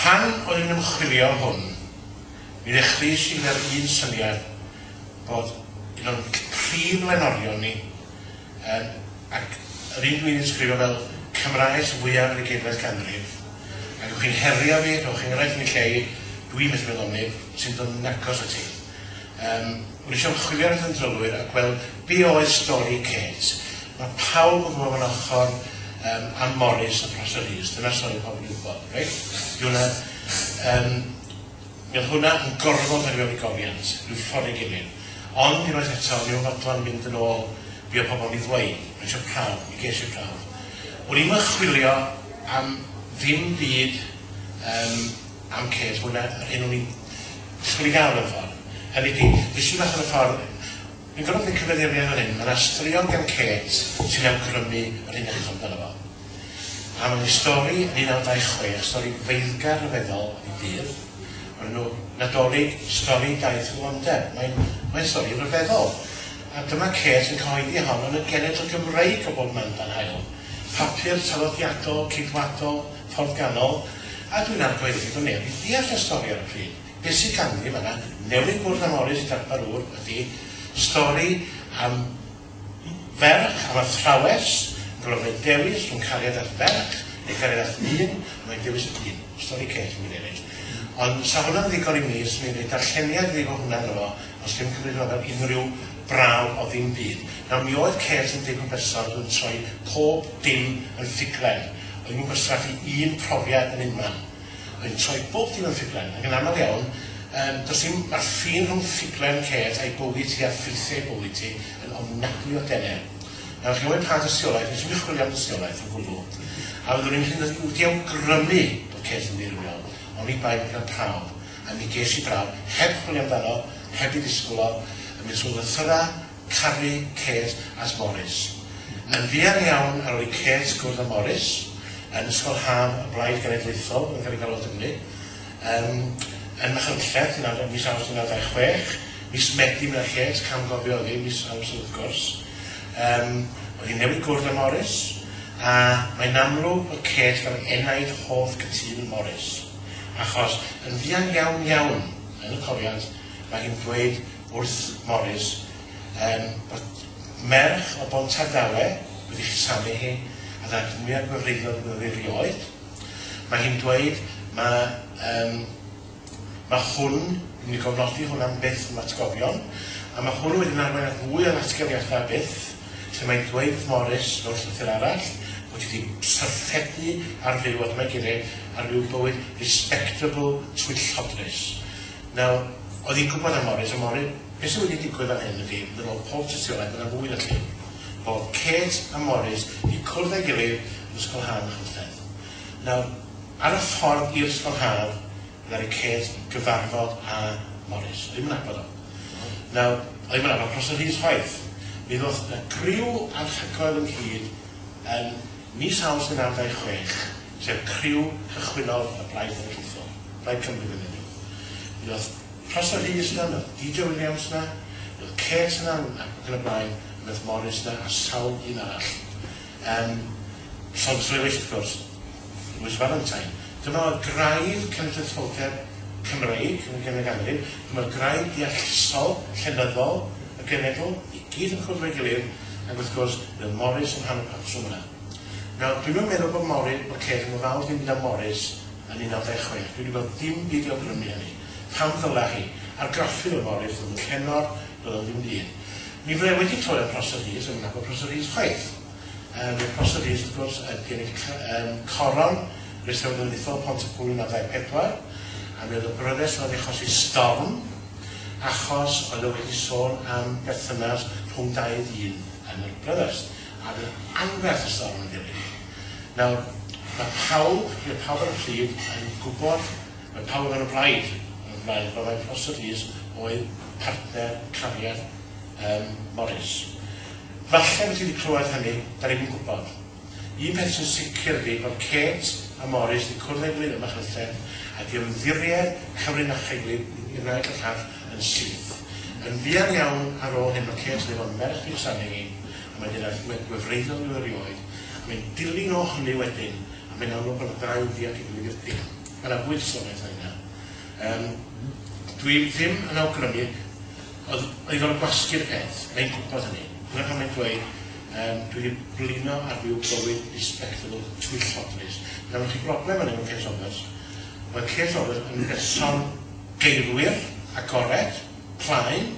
Pan o'n i'n ymchwilio hwn, mi ddechreuais i gyda'r un syniad bod un o'n prif lenorion ni yn, ac yr un dwi'n ysgrifo fel Cymraes fwyaf yr ugeinfed ganrif, ac ewch chi'n herio fi, rhowch enghraifft yn y lle i, dwi'n methu meddwl am neb sy'n dod yn agos ati. Yym, o'n i isio ymchwilio ar y yn drylwyr a gweld be oedd stori Kate. Mae pawb yn gwybod fan ochr um, Ann Morris a Prosser Rees, dyna'r stori pobl yn gwybod, reit? Di hwnna, um, mi oedd hwnna yn gorfod ar i gofiant, rhyw ffordd ei gilydd. Ond i roedd eto, mi oedd fodlon mynd yn ôl be o pobl yn ei ddweud, mae eisiau prawf, mi ges i prawf. O'n i'n chwilio am ddim byd um, Am Kate, hwn a yr hyn o'n i'n disgwyl i gael mewn ffordd. Hynny ydi, es i mas ar y ffordd. Dwi'n gorfod gwneud cyfeiriadau fan hyn, mae 'na straeon gan Kate sy'n awgrymu yr un peth amdano fo. A mae'n ei stori yn 1926, stori feiddgar rhyfeddol i ddydd, o'r enw Nadolig, stori daith Rwandeb. Mae'n mae'n stori rhyfeddol. A dyma Kate yn cyhoeddi hon yn y genedl Gymreig o bob man dan haul. Papur traddodiadol, Ceidwadol, Ffordd Ganol, a dwi'n argoed fod digon neb i ddeall y stori ar y pryd. Be sy ganddi fan 'na, newydd gwrdd â Morris darpar ŵr, ydi stori am ferch, am athrawes yn gorfod gwneud dewis rhwng cariad at ferch neu cariad at ddyn, a mae'n dewis y dyn. Stori ceg i mi ddeud. Ond 'sa hwnna'n ddigon i mi, 'swn i'n rhoi darlleniad iddi fo hwnna ynddo fo, os ddim cymryd hwnna fel unrhyw braw o ddim byd. Nawr, mi oedd Kate yn dipyn berson, dwi'n troi pob dim yn ffuglen. Rwy'n ymgorstraffu un profiad yn unman. Rwy'n troi bob dim yn ffuglen, ac yn aml iawn, yym, does dim, mae'r ffin rhwng ffuglen Kate a'i bywyd hi a ffeithiau ei bywyd hi yn ofnadwy o dener. Nawr, chi'n gwybod pa dystiolaeth, nes i'm yn chwilio am dystiolaeth o gwbl, a fyddwn i'n hynod i wedi awgrymu bod Kate yn ddirywiol, oni bai bod gan pawb, a mi ges i brawf, heb chwilio amdano, heb ei ddisgwyl o, yn mynd trwy lythyrau, Caru Kate at Morris. Yn fuan iawn ar ol i Kate gwrdd â Morris yn Ysgol Haf y Blaid Genedlaethol yn Garrigalod Dymru, yn yn Machynlleth, yn awr- mis Awst 1926. Mis Medi mi nath Kate cam-gofio oddi, mis Awst wrth gwrs. Yym, oedd hi'n newid gwrdd â Morris, a mae'n amlwg bod Kate fel enaid hoff cytun Morris, achos yn fuan iawn iawn yn y cofiant mae hi'n dweud wrth Morris yym bod merch o Bontardawe wedi cusanu hi a ddaeth mwyaf gwefreiddiol iddo ddi rioed. Mae hi'n dweud mae yym mae hwn, yn mynd i gofnodi hwn am byth yn atgofion, a mae hwn wedyn arwain at fwy o ddatganiadau byth lle mae'n dweud wrth Morris mewn llythyr arall bod hi wedi syrffedu ar fyw a dyma'i geiriau ar fyw bywyd respectable twyllodlys. Nawr, oedd hi'n gwybod am Morris, ond Morris, beth sydd wedi digwydd fan hyn ydy, fy nôl pob tystiolaeth, mae yna fwy na llun, bod Kate a Morris wedi cwrdd â'i gilydd yn Ysgol Haf Machynlleth. Nawr, ar y ffordd i'r Ysgol Haf, ddaru Kate gyfarfod â Morris. Oedd hi'm yn nabod o. Nawr, oedd hi'm yn nabod Prosser Rhys chwaith. Mi ddoth 'na griw anhygoel ynghyd yn Mis Awst yn adau chwech, sef criw cychwynnodd y Blaid Cenedlaethol, Plaid Cymru fel enw. Mi o'dd Prosser Rhys 'na, mi o'dd DJ Williams 'na, mi o'dd Kate yna ac yn y blaen, a mi o'dd Morris 'na a sawl un arall. Yym, llond frewyll wrth gwrs, it was Valentine. Dyma oedd graidd cenedlaetholdeb Cymreig yn y Genedl Ganrif, dyma oedd graidd deallusol, llenyddol y genedl, i gyd yn cwrdd efo'i gilydd, Ac wrth gwrs, bydd Morris yn rhan o'r patrwm yna. Nawr, dwi'm yn meddwl bod Morris, bod Kate yn ofalus ddim byd am Morris yn 1926. Dwi 'di gweld dim byd i awgrymu hynny. Pam ddyla hi? Argraffu oedd Morris, roedd yn llenor, doedd o'n ddim dyn. Mi fydda i wedi clywed am Prosser Rees, rwy'n nabod Prosser Rees chwaith. Um, Prosser Rees, wrth gwrs, yn gennych um, coron Rheswm Gymdeithol Pont y Pwy 1924, a mi oedd y bryddes yn achosi storm Achos oedd o wedi sôn am berthynas rhwng dau ddyn yn y Brothers, a fydd anferth y storm yn dilyn. Nawr, mae pawb, mae pawb ar y pryd yn gwybod, mae pawb yn y blaid, yn y blaid, fel mae Prosser Rees oedd partner cariad um, Morris. Falle bod ti wedi clywed hynny, da ni'n gwybod. Un peth sy'n sicr ydi bod Kate a Morris yn cwrdd â'i gilydd ym Machynlleth a di ymddiried Cymru Nacha'i gilydd i wneud y llall yn syth. Yn fuan iawn ar ôl hyn mae Kate yn ei fod yn ferch ddydd Samhain a mae gyda gwe gwefreiddiol yn erioed a mae'n dilyn o hynny wedyn a mae'n amlwg bod y ddau yn ddianc ei gilydd i'r dim. Mae na fwy disonaeth na hynna. Yym dwi ddim yn awgrymu oedd oedd o'n gwasgu'r peth, mae'n gwybod hynny. Dyna pam mae'n dweud Yym, dwi 'di blino a dwi 'n bywyd respectable twyllodlys. Nawr, gen ti broblem fan 'yn efo Kate Roberts. Mae Kate Roberts yn berson geirwyr, agored, plaen.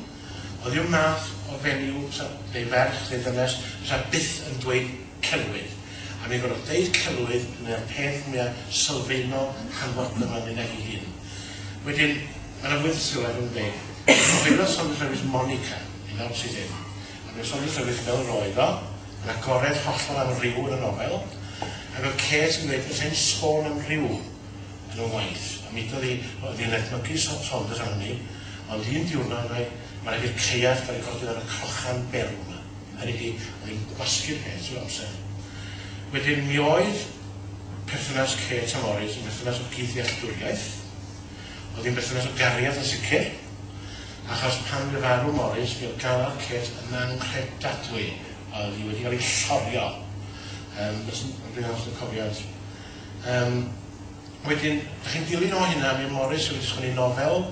Oedd yw'r math o fenyw fysa, neu ferch, neu ddynes, fysa byth yn dweud celwydd. A mi gorfod deud celwydd yn y peth mwya sylfaenol hanfodol fan 'yn ag 'i hun. Wedyn, mae 'na fwy wrth sylwedd yn ymwneud. Cofio Sonny Lewis Monica, i nawr sydd ddim. Yn yr ysgol Trywydd Hill roedd o, yn agored hollol am ryw yn y nofel, ac oedd Kate yn dweud petai hi'n sôn am ryw yn y waith, a mudodd hi, oedd hi'n edmygu Saunders am hynny, ond un diwrnod, meddai, mae rhaid i'r caead gael ei godi ar y crochan berw 'ma. Hynny ydi, oedd hi'n gwasgu'r peth trwy'r amser. Wedyn, mi oedd perthynas Kate a Morris yn berthynas o gyd-ddealltwriaeth, oedd hi'n berthynas o gariad yn sicr, Achos pan fu farw Morris, bu'r galwad cêt yn anghredadwy, a oedd hi wedi cael ei llorio. Yym, os yn, dwi'n hawdd yn cofiad. Yym, wedyn, da chi'n dilyn o hynna, mi Morris wedi sgwni nofel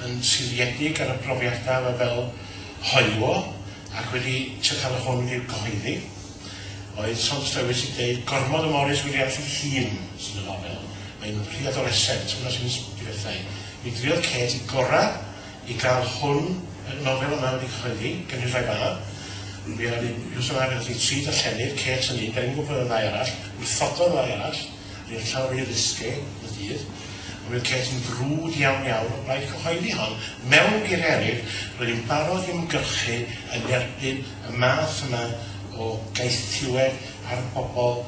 yn siliedig ar y profiadau fe fel hoyw o, ac wedi trio cael y hwn i'r gyhoeddi. Oedd Soms Lewis i ddeud, gormod o Morris Williams ei hun sy'n y nofel. Mae'n rhy adoresent, hwnna sy'n ysbrydolethau. Mi druodd Kate i gora i gael hwn y nofel yma wedi cyhoeddi, genhedlaeth fan 'na. Mi oedd hi wsos yma fe ddoth hi tri darllenydd, Kate yn un, Berin Gwpl yn y ddau arall, wrthododd y ddau arall, roedd hi'n llaw rhy risque yn y dydd, ond mi oedd Kate yn frwd iawn iawn o blaid cyhoeddi hon, mewn geiriau eraill, roedd hi'n barod i ymgyrchu yn erbyn y math yma o gaethiwed ar bobl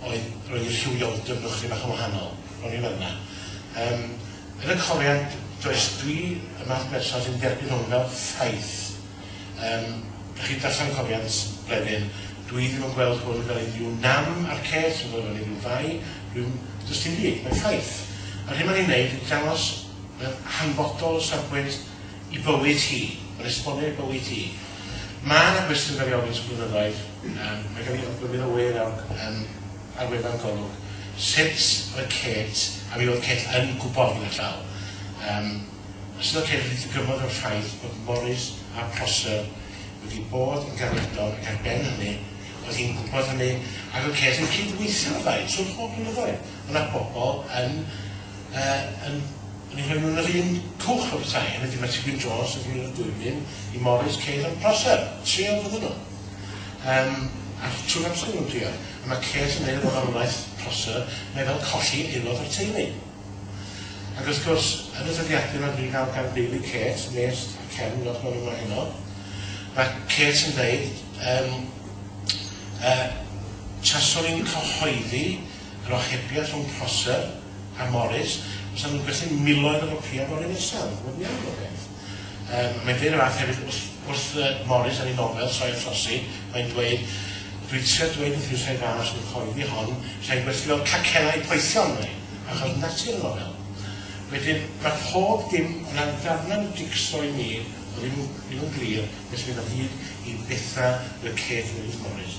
oedd roedd eu rhywioldeb nhw'n chydig bach yn wahanol. O'n i fan'na. Yym, yn y cofiad, does, dwi y math berson sy'n derbyn hwn fel ffaith. Yym, dych chi'n darllen cofiad Bleddyn, dwi ddim yn gweld hwn fel unrhyw nam a'r ces, dwi'n gweld fel unrhyw fai, dwi'n, does dim byd, mae'n ffaith. A'r hyn mae'n ei wneud ydy dangos mewn hanfodol o safbwynt i bywyd hi, mae'n esbonio ei bywyd hi. Mae yna gwestiwn gael ei ofyn ers blynyddoedd, yym, mae gen i ogwyr, mi ddywir, yym, ar wefan Golwg sut oedd Kate, a mi oedd Kate yn gwybod gyda llaw, yym, sut oedd Kate wedi ddigymod o'r ffaith bod Morris a Prosser wedi bod yn garwriadol ac ar ben hynny, oedd hi'n gwybod hynny, ac oedd Kate yn cyd-weithio â'r ddau trwy'r holl blynyddoedd. Oedd 'na bobl yn, yy, yn, yn ei rhoi nhw yn yr un cwch a pethau, hynny ydi, mae Ti Wyn Jones yn rhoi nhw yn y dwyfyn i Morris, Kate a Prosser, trio iddyn nhw. Yym, a trwy'r amser o'n nhw'n crio. A mae Kate yn dweud efo farwolaeth prosser, mae fel colli aelod o'r teulu. Ac wrth gwrs, yn y dyddiadur oedd ni'n cael gan deulu Kate, Nest a Ken, fel chwarae yma heno, mae Kate yn dweud, um, uh, taswn i'n cyhoeddi yr ohebiaeth rhwng Prosser a Morris, os nhw'n gwerthu miloedd o gopïau fory nesaf, wedi'n iawn o beth. Yym, mae'n dweud y fath hefyd wrth, wrth yy Morris yn ei nofel, Sioe a Throsi, mae'n dweud, Dwi'n trio dweud wrth Huws a'i fam, os yw'n cyhoeddi hon, sai'n gwerthu fel cacennau i poethion, mae achos yn natur y nofel. Wedyn, mae pob dim yn rhan ddarnau jig-so i mi, o ddim yn ddim yn glir beth sy'n mynd o hyd i bethau y cêt yn Ynys Morris.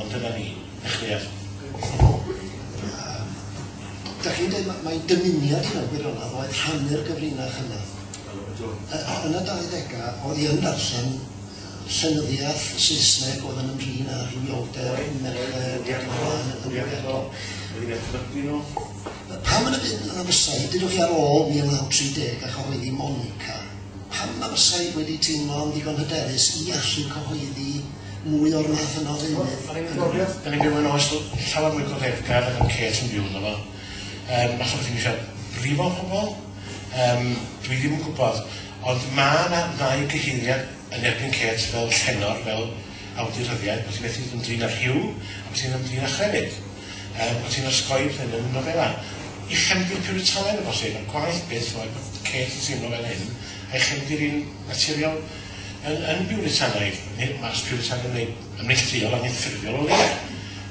Ond dyna ni. Dioch Lleiaf. Dach chi'n dweud, mae, mae dymuniad i mewn gwirionedd oedd rhannu'r gyfrinach yna. Yn y 20au, oedd i yn darllen llenyddiaeth Saesneg oedd yn ymdrin â rhywioldeb, merched, ac yn blaen, yn wyliadol. Pam yn y byd yna fysau, dydwch chi ar ôl 1930 a chyhoeddi Monica, pam na fysau wedi teimlo'n ddigon hyderus i allu cyhoeddi mwy o'r math yna o ddeunydd. Da ni'n gofio, da ni'n byw yn oes llawer mwy cofeddgar yn y Kate yn byw yno fo. Um, falle bod ti'n eisiau brifo pobl? Um, dwi ddim yn gwybod. Ond mae yna ddau gyheiriad yn erbyn Kate fel llenor, fel awduryddiaeth, bod ti'n methu ymdrin â'r rhyw, a bod ti'n ymdrin â chrefyd. Um, bod ti'n osgoi pethau yn y nofela. I chefndir puritanedd o bosib, a'r gwaith beth oedd Kate yn teimlo fel hyn, a'i chefndir i'n naturiol Yn yn biwritanaidd, ne' mas piwritanaidd neu yn neillduol anffurfiol o leia'.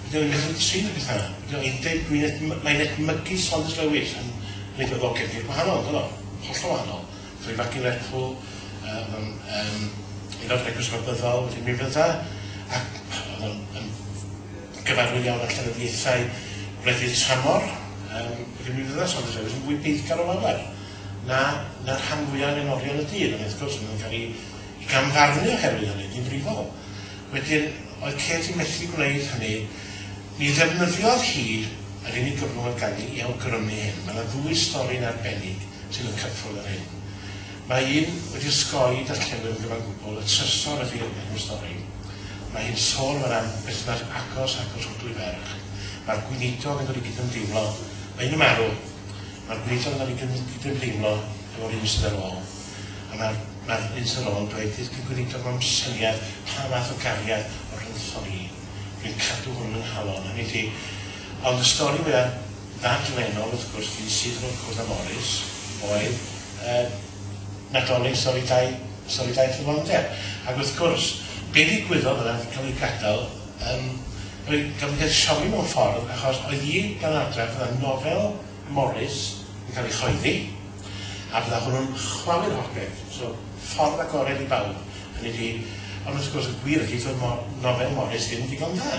Ydi o ddim beth yn trin y petha 'na. Ydi o yn deu- dwi'n ed- m- mae'n edmygu Saunders Lewis yn yn ei boddogedd hi, gwahanol on'd o'dd o? Hollol wahanol. Gath o 'i fagu'n Lerpwl, yy o'dd o'n yym aelod o'r Eglwys Fabyddol, felly mi fydda' ac o'dd o'n yn gyfarwydd iawn â llenyddiaethau gwledydd tramor, yym felly mi fydda' Saunders Lewis yn fwy beiddgar o lawer. na na'r rhan fwya' o lenorion y dyn ond wrth gwrs ma' nw'n ca'l 'u gam-farnu oherwydd hynny'n ddifrifol. Wedyn oedd Kate yn methu gwneud hynny. Mi ddefnyddiodd hi yr unig gyfrwng oedd ganddi i awgrymu hyn. Ma' 'na ddwy stori'n arbennig sydd yn cyffwrdd â'r hyn. Mae un wedi osgoi i darllenwyr yn gyfan gwbwl, y trysor ydi enw'r stori. Mae hi'n sôn fan 'na am berthynas agos rhag y Rhwdwy Ferch. Mae'r gweinidog yn dod i gydymdeimlo. Mae un yn marw. Mae'r gweithio'n cael ei gydymdeimlo efo'r un sydd ar ôl. A mae'r mae'r un sydd ar ôl yn dweud, fydd y Gweinidog mewn syniad pa fath o gariad o rhyngthon ni. Dwi'n cadw hwn yn nghalon, hynny ydi. Ond y stori fwya ddadlennol, wrth gwrs, fi'n syth o'r cwrdd â Morris, oedd y Nadolig sori dau sori dau thrylondeb. Ac wrth gwrs, be ddigwyddodd oedd e'n cael ei gadael Yym, rwy'n gorfod deud sori mewn ffordd, achos oedd hi dan adref, fydda nofel Morris yn cael ei chyhoeddi, a fydda hwnnw'n chwalu'r holl beth. So, ffordd agored i bawb, hynny ydi, ond wrth gwrs y gwir ydi, doedd mo- nofel Morris ddim yn ddigon da.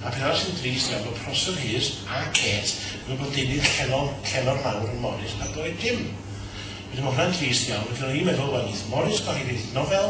A'r peth arall sy'n drist nawr, bod Prosser Rhys a Kate yn gwybod deunydd llennol, llennol mawr yn Morris, a doedd dim. Wedyn, mae hwnna'n drist iawn, felly o'n i'n meddwl, wel, wneith Morris gyhoeddi'r nofel,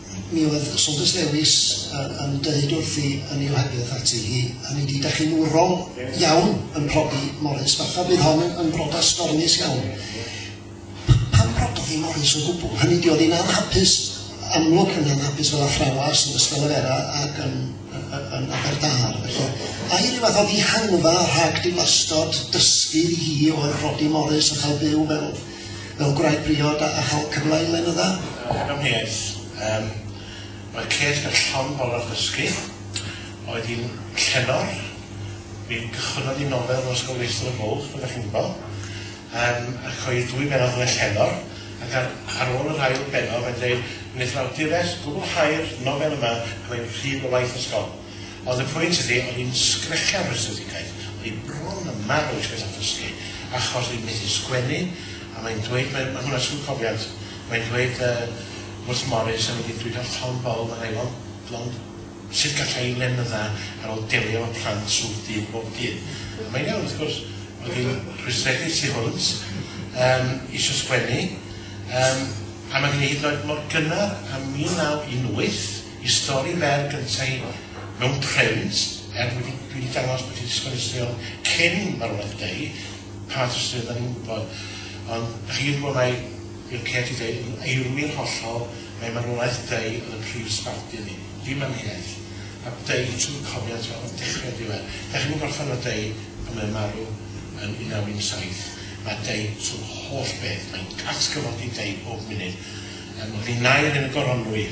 mi oedd Saunders Lewis yn dweud wrthi yn ei ohebydd ati hi, hynny ydi, da chi'n wrol iawn yn prodi Morris, fatha bydd hon yn, yn brodas stormus iawn. Pan brododd hi Morris o gwbl, hynny ydi, oedd hi'n anhapus, amlwg yn anhapus fel athrawes yn Ysgol Efera ac yn, yn, yn Aberdâr. Felly, a i ryw fath o ddihanfa rhag dilastod dysgu i hi oedd Roddy Morris a chael byw fel fel gwraig briod a a chael cyfle i lenydda. Yn amheus. Yym. Roedd Kate yn llond bol ar ddysgu. Oedd hi'n llenor. Mi gychwynnodd hi nofel yn Ysgol Leicester y Bwlch, fel dach chi'n gwbo. Yym ac oedd dwy bennod yn y llenor ac ar ar ôl yr ail bennod mae'n dweud wnaeth yr awdures gwblhau'r nofel yma a mae'n rhydd o waith ysgol. Oedd y pwynt ydi, o'n i'n sgrechian o'r astudigaeth, o'n i bron yn marw eisiau beth am dysgu, achos o'n i'n methu sgwennu, a mae'n dweud, mae, mae hwnna sy'n cofiant, mae'n dweud uh, wrth Morris, a mynd i'n dweud ar Tom Ball, mae'n aelon, blond, sut gallai i lenydda ar ôl delio efo plant sŵr dydd bob dydd. A mae'n iawn, wrth gwrs, oedd hi'n rhwystredig tu hwnt, um, eisiau sgwennu, um, a mae gen i hyd yn oed mor gynnar am 1918, Y stori fer gyntaf mewn print, er dwi 'di dwi 'di dangos bod fi 'di sgwennu straeon cyn marwolaeth Dei, pa fath o straeon 'dan ni'm yn gwybod, ond dach chi 'di gwybod mai, fel Kate 'di deud, yn eirwir hollol, mai marwolaeth Dei oedd y prif sbardun ni, dim amheuaeth, a Dei trwy cofiant o o dechre i'r diwedd. Dach chi'm yn gorffen efo Dei pan mae'n marw yn 1917, mae Dei trwy holl beth, mae'n atgyfodi Dei bob munud, yym, mae 'di naer yn y goronwy,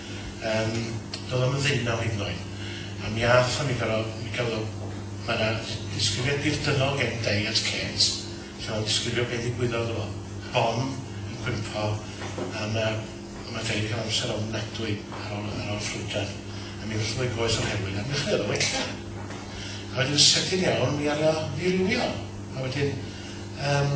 Yym, doedd o'm yn ddeunaw hyd yn oed. A mi athon ni gor'o', mi gafodd o... Ma' 'na ddisgrifiad dirdynnol gen Diet Kate lle o'n disgrifio be' ddigwyddodd iddo fo. Bom yn cwympo a ma' ma' Diet yn ca'l amser ofnadwy ar ôl ar ôl llwybrau a mi ddoth o fo'i goes o'r heulwen a mi ddechreuodd o wella. A wedyn sydyn iawn mi aru o ddirywio a wedyn yym